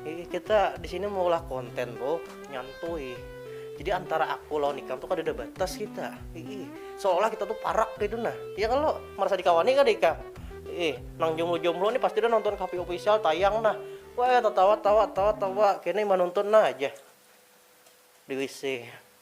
Iya kita di sini maulah konten bro, nyantui. Jadi antara aku lawan ikam tuh kadada batas kita. Ii, seolah kita tuh parak gitu nah. Iya kan lo merasa dikawani kada ikam? Ii, nang jomblo-jomblo nih pasti dah nonton Kapi Official tayang nah. Weh tatawa tawa tawa tawa, kene manuntun nah aja di WC.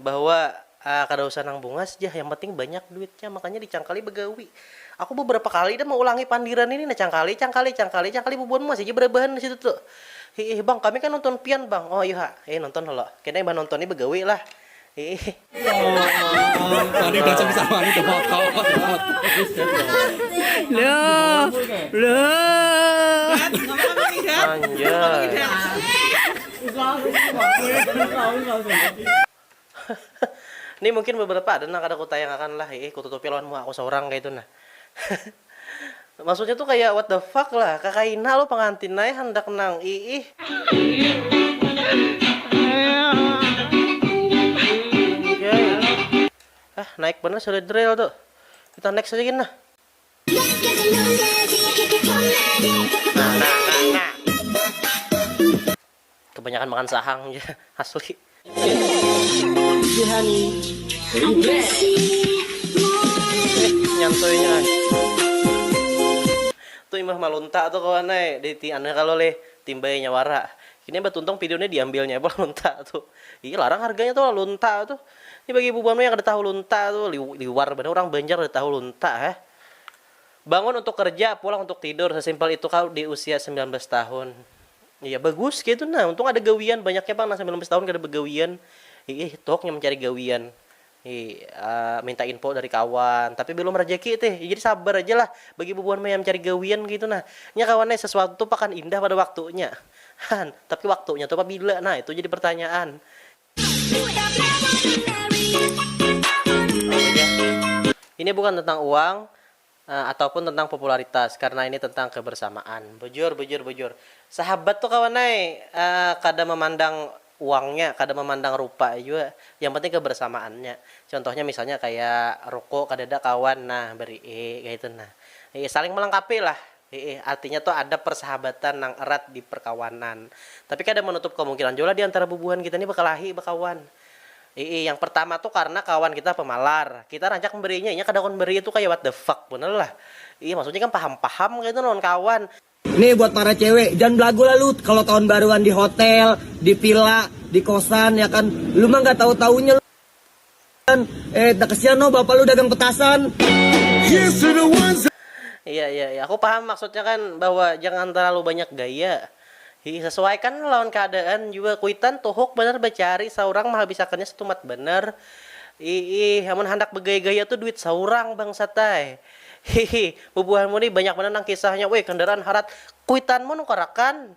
Bahwa, ah kada usah nang bungas jah, yang penting banyak duitnya, makanya dicangkali bagawi. Aku babarapa kali dah maulangi pandiran ini nah, cangkali, cangkali, cangkali, cangkali bubuhan masih ja barabahan di situ tu. Hiih bang, kami kan nonton pian bang. Oh ayuha, eh nonton ha lo. Kena imbah nonton ni bagawi lah. Hiih. Loh. Loh. Anjay. Ni mungkin beberapa ada nang kada kutayang akan lah iih kututupi lawan muha aku saurang kaya itu nah maksudnya tu kaya what the fuck lah kakaina lo pengantin ai handak nang iih. Hah naik banar si Red Rail tu. Kita next aja gin nah. Kebanyakan makan sahang ja asli. Tu imbah malunta tu kawan ai di anu kalo lih timbai nya wara. Ini abah tuntung pidiunnya diambilnya abah lunta tu. Ih larang harganya tu lah lunta tu. Ni bagi bubuhan mu yang kada tahu lunta tu, liwar banar urang banjar kada tahu lunta heh. Bangun untuk kerja, pulang untuk tidur, sesimpel itu kah di usia sembilan belas tahun. Iya bagus kaya itu nah, untung ada gawian, banyaknya pang nang sembilan belas tahun kada bagawian. Hiih tuhuk nya mencari gawian. Hiih minta info dari kawan, tapi belum rejeki tih. Iya jadi sabar aja lah bagi bubuhan mu yang mencari gawian kaya itu nah. Nya kawan ai, sesuatu tu pakan indah pada waktunya. Han, tapi waktunya tu pabila nah itu jadi pertanyaan. Ini bukan tentang uang ataupun tentang popularitas karena ini tentang kebersamaan. Bujur, bujur, bujur. Sahabat tu kawan ai kada memandang uangnya, kada memandang rupa jua, yang penting kebersamaannya. Contohnya misalnya kaya ruko kadada kawan nah beri'i kaitu nah. Saling melengkapilah. Hiih, artinya tu ada persahabatan nang erat di perkawanan. Tapi kada menutup kemungkinan jua lah di antara bubuhan kita ni bakalahi bakawan. Hiih, yang pertama tu karna kawan kita pamalar. Kita rancak memberinya, inya kada kawa memberi itu kaya what the fuck banar lah. Hiih, maksudnya ikam paham-paham kah itu lawan kawan. Nih buat para cewe, jangan belagu lah lu kalo kawan baruan di hotel, di villa, di kosan ya kan. Lu mah nggak tahu-tahunya lu. Eh, takasian noh bapak lu dagang petasan. Iya iya iya, aku paham maksudnya kan bahwa jangan terlalu banyak gaya. Hi, sesuaikan lawan keadaan jua kuitan tuhuk banar bacari saurang mahabisakannya setumat banar. Iih, amun handak bagaya-gaya tu duit saurang bangsat ai. Hihi, bubuhanmu ni banyak banar nang kisahnya, weh kendaraan harat, kuitanmu nukarakan.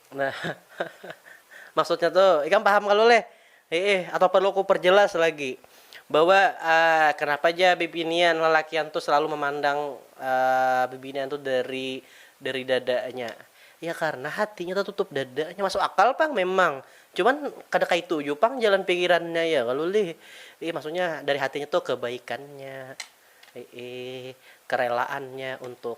Nah, maksudnya tu ikam paham kalu leh? Hiih, atau perlu ku perjelas lagi bahwa kenapa ja bibinian lalakian tu selalu memandang bibinian tu dari dari dadanya? Ya karena hatinya tatutup dadanya. Masuk akal pang memang, cuman kada kaitu jua pang jalan pikirannya ya kalu lih? Hiih, maksudnya dari hatinya tu kebaikannya, hiih, kerelaannya untuk.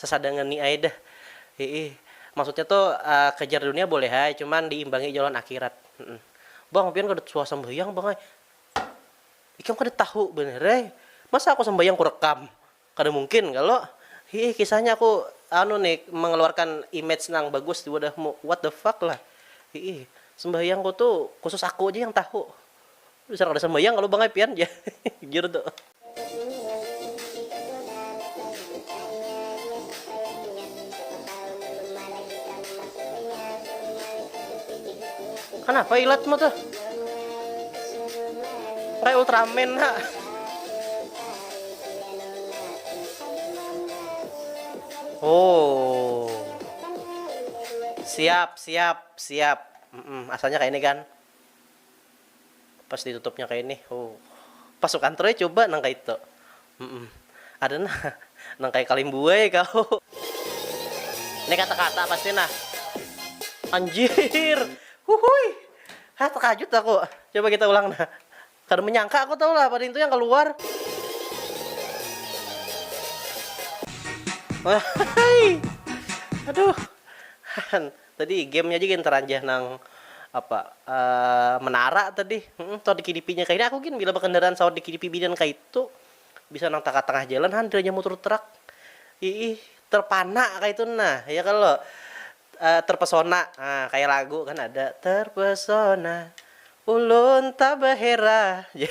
Sasadangan ni ai dah. Hiih. Maksudnya tu, kejar dunia boleh ai, cuman diimbangi jua lawan akhirat. Bang, pian kada suah sambahyang bang ai. Ikam kada tahu banar ai. Masa aku sambahyang kurekam? Kada mungkin kalo. Hiih, kisahnya aku anu ni, mengeluarkan image nang bagus di wadahmu. What the fuck lah. Hiih. Sambahyangku tu khusus aku ja yang tahu. Dasar kada sambayang kalu bang ai pian jar jar tu. Kanapa ilat ma tuh? Kayak Ultraman ha. Oh. Siap, siap, siap. Mm-mm, asalnya kayak ini kan. Pas ditutupnya kaya ini, huh. Pas sukan troy cuba nang kaitu. Humm. Ada nah, nang kaya kalim buai kau. Ini kata-kata pasti nah. Anjiir. Huhuy. Hah tekajut aku. Coba kita ulang nah. Kada menyangka aku tahu lah pada intu yang keluar. Wahai. Aduh. Han. Tadi game nya ja gin taranjah nang apa menara tadi saut dikilipi nya kaina aku gin bila bakandaraan saut dikilipi binian kaitu bisa nang tangah tangah jalan han piranjah mutur trak iih terpana kaitu nah ya kalo terpesona nah kaya lagu kan ada terpesona ulun tabahera jar.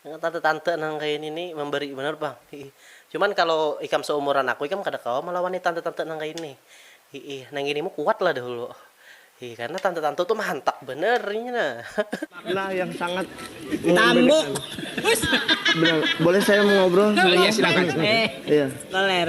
Nang tante-tante nang kaya ini ni memberi banar pang, hiih. Cuman kalo ikam seumuran aku ikam kada kawa melawani tante-tante nang kaya ini, hiih. Nang ini mu kuat lah dahulu, hiih. Karena tante-tante tu mahantak banar inya nah. Makna yang sangat mengembirakan. Boleh saya mengobrol sebentar? Iya, silakan. Iya. Toler.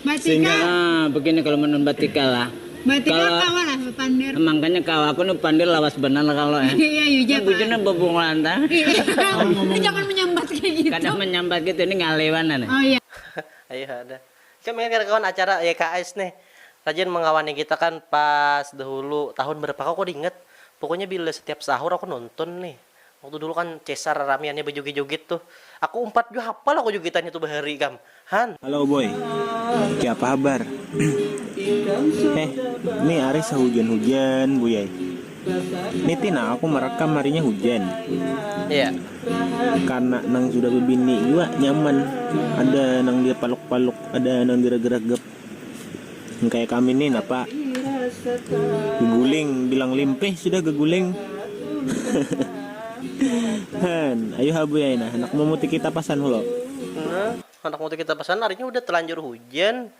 Batika. Nah, begini kalau menun batika lah. Batika kalau, kawa lah pander. Makanya kawa aku nih pander lawas benar kalau ya. Iya Yuja. Bujurnya bebungulan ta. Jangan menyambat kayak gitu. Kadang menyambat gitu ini ngalewan aneh. Oh iya. Ayo ada. Cuma ingat kan kawan acara YKS nih. Rajin mengawani kita kan pas dahulu tahun berapa kau kok diingat. Pokoknya bila setiap sahur aku nonton nih. Waktu dulu kan cesar raramiannya bajugit-jugit tuh. Aku umpat jua hapal aku jugitannya tuh bahari ikam. Han. Halo boy. Kayapa habar? Heh, ni ari sahujan-hujan buy ai. Ni ti nang aku marakam harinya hujan. Iya. Karna nang sudah babini jua nyaman. Ada nang dipaluk-paluk, ada nang diragragap. Yang kayak kami nih napa guling bilang limpih sudah guling. Han, ayu ha buya nah handak mamuti kita pasan hulo. Nah, handak mamuti kita pasan harinya hudah talanjur hujan.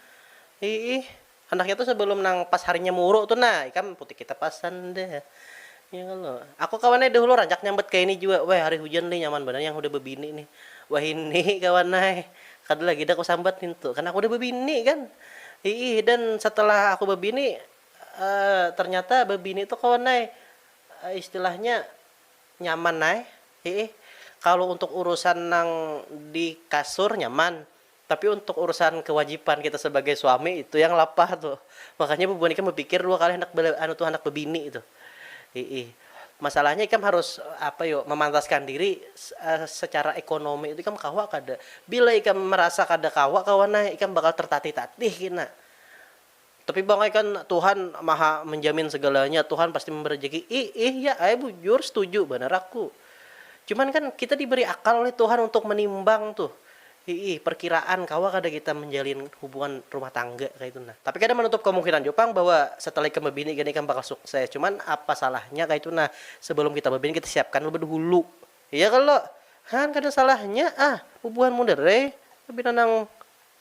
Iih, handaknya tuh sebelum nang pas harinya muru tuh nah ikam muti kita pasan dah. Nya kalo. Aku kawan ai dahulu rancak nyambat kaya ini jua, weh hari hujan lih nyaman banar yang hudah babini nih. Wahini kawan ai, kada lagi dah ku sambat nintu, karna aku hudah babini kan. Hiih, dan setelah aku babini, ternyata babini tu kawan ai istilahnya nyaman ai, hiih. Kalo untuk urusan nang di kasur nyaman, Tapi untuk urusan kewajipan kita sebagai suami itu yang lapah tu. Makanya bubuhan ikam bepikir dua kali handak be anu tu handak bebini itu. Hi'i. Masalahnya ikam harus apa yo memantaskan diri secara ekonomi tu ikam kawa kada. Bila ikam merasa kada kawa kawan ai ikam bakal tertatih-tatih kina. Tapi bang ai kan tuhan maha menjamin segalanya tuhan pasti memberi rejeki ih ih ya ai bujur setuju banar aku cuman kan kita diberi akal oleh tuhan untuk menimbang tuh hiih perkiraan kawa kada kita menjalin hubungan rumah tangga kaitu nah tapi kada manutup kemungkinan jua pang bahwa setelah ikam babini gin ikam bakal sukses cuman apa salahnya kaitu nah sebelum kita babini kita siapkan leba dahulu iya kalo haan kada salahnya ah bubuhan muda rei pina nang.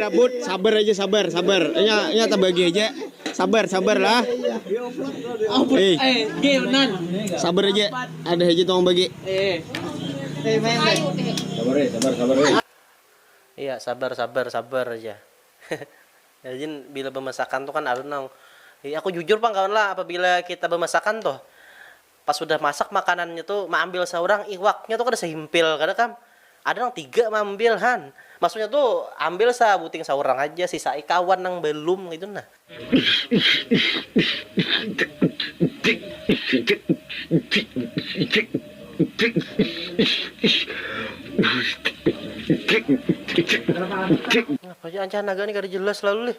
Rabut sabar aja sabar sabar nya nya tabagi aja sabar sabar lah eh sabar aja ada aja tong bagi Iya sabar sabar sabar aja rajin bila bemasakan tu kan ada nang, aku jujur pang kawan lah apabila kita bemasakan tuh Pas sudah masak makanannya tu maambil saurang iwaknya tu kada sahimpil kada kam ada nang tiga maambil han maksudnya tu ambil sabuting saurang haja sisai kawan nang balum ngitu nah. Ngapa ja ancah naga ni kada jelas lalu lih.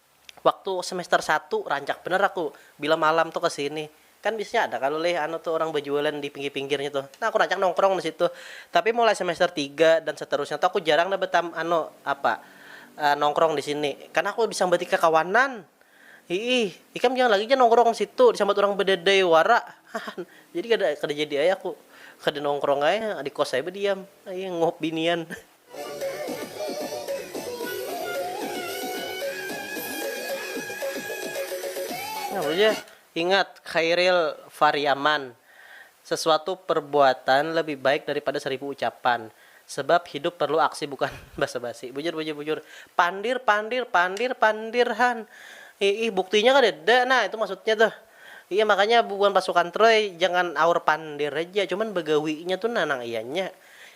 Waktu semester satu rancak banar aku bila malam tu kesini. Kan biasanya ada kalo lih anu tu urang bajualan di pinggir-pinggirnya tu. Nah aku rancak nongkrong di situ. Tapi mulai semester tiga dan seterusnya tu aku jarang dah betam anu apa nongkrong di sini. Kan aku disambati kakawanan. Hiih, ikam jangan lagi ja nongkrong di situ, disambat urang badadai wara. Hahan. Jadi kada jadi ai aku. Kada nongkrong ai, di kos ai badiam. Hiih, nguhup binian. Ingat, Khairil Fariaman, sesuatu perbuatan lebih baik daripada seribu ucapan. Sebab hidup perlu aksi bukan basa basi. Bujur bujur bujur. Pandir pandir pandir pandir han. Iih buktinya kadada nah itu maksudnya tuh. Iya makanya bubuhan pasukan troy jangan aur pandir haja cuman bagawinya tu nah nang ianya.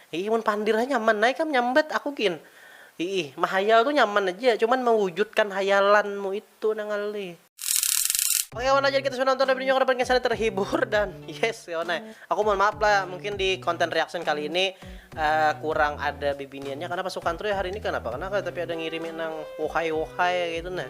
Iih mun pandir ha nyaman ai kam nyambat aku gin. Iih, mahayal tu nyaman aja, cuman mewujudkan hayalanmu itu nang ngalih. Oke kawan ajar kita sudah nonton review ini harapan kesannya terhibur dan yes kawan ay. Aku mohon maaf lah mungkin di konten reaction kali ini uh, kurang ada bibiniannya karena pasukan Troy hari ini kenapa kenapa tapi ada ngirimi nang wohai wohai gitu nah.